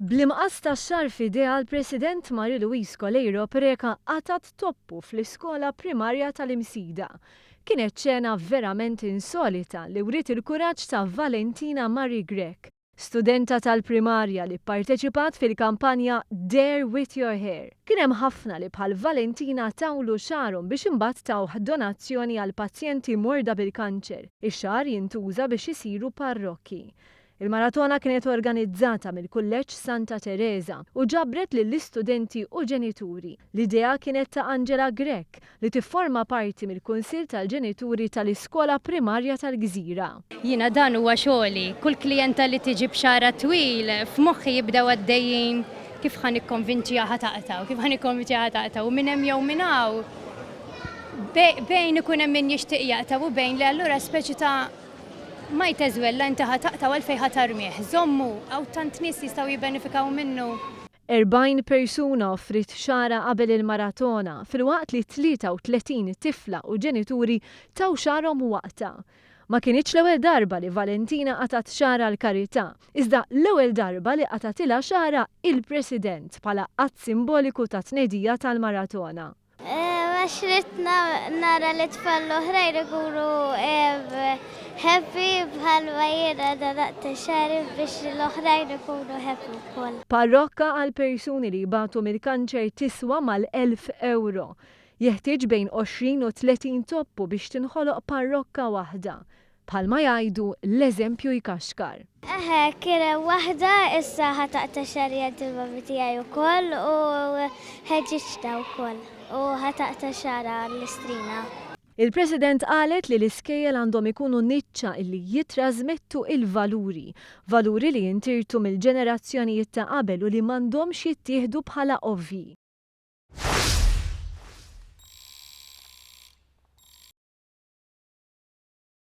Bl-imqas tax-xagħar f'idejha l-President Marie Louise Coleiro Preca qatgħet toppu fl-iskola primarja tal-Imsida. Kienet xena verament insolita li wriet il-kuraġġ ta' Valentina Marie Grech, studenta tal-primarja li pparteċipat fil-kampanja Dare with your hair. Kien hemm ħafna li bħal Valentina tawlu xagħarhom biex imbagħad tawh donazzjoni għal pazjenti morda bil-kanċer. Ix-xagħar jintuża biex isiru parrokki. Il-maratona kienet organizzata mill-Kulleġġ Santa Tereża u ġabret lill-istudenti u ġenituri. L-idea kienet ta' Angela Grech, li tifforma parti mill-Kunsill tal-Ġenituri tal-Iskola Primarja tal-Gżira. Jiena dan huwa xogħli. Kull klijenta li tiġi b'xagħarha twil, f'moħħi jibdew għaddejjin kif ħa nikkonvinċiha ħa taqta' u kif ħa nikkonvinċiha ħa taqta' u minn hemm jew minn hawn bejn ikun hemm min jixtieq jaqta' u bejn le allura speċi ta' Mite as well la inti ħa taqta' u għalfejn ħa tarmih. Żommu, hawn tant nies li jistgħu jibbenefikaw minnu. 40 persuna offriet xagħarha qabel il-maratona, filwaqt li 33 tifla u ġenituri taw xagħarhom waqtha. Ma kinitx l-ewwel darba li Valentina qatgħet xagħarha għall-karità, iżda l-ewwel darba li qatgħatilha xagħarha il-President bħala att simboliku ta' tnedija tal-maratona. Għax ridt nara lit-tfal l-oħrajn ikunu happy bħalma jiena nadaqt xagħri biex l-oħrajn ikunu happy wkoll. Parrokka għal persuni li jbatu mill-kanċer tiswa mal-elf ewro. Jeħtieġ bejn għoxrin u tletin toppu biex tinħoloq parrokka waħda. Bħalma jgħidu, l-eżempju jkaxkar. Eħe, kien hemm waħda issa ħa taqta' xagħri għand il-mommy tiegħi wkoll u ħeġġiġtha wkoll u ħa taqta' xagħarha l-istrina. Il-President qalet li l-iskejjel għandhom ikunu niċċa li jittrażmettu il-valuri, valuri li jintirtu mill-ġenerazzjonijiet ta' qabel u li m'għandhomx jittieħdu bħala ovvji.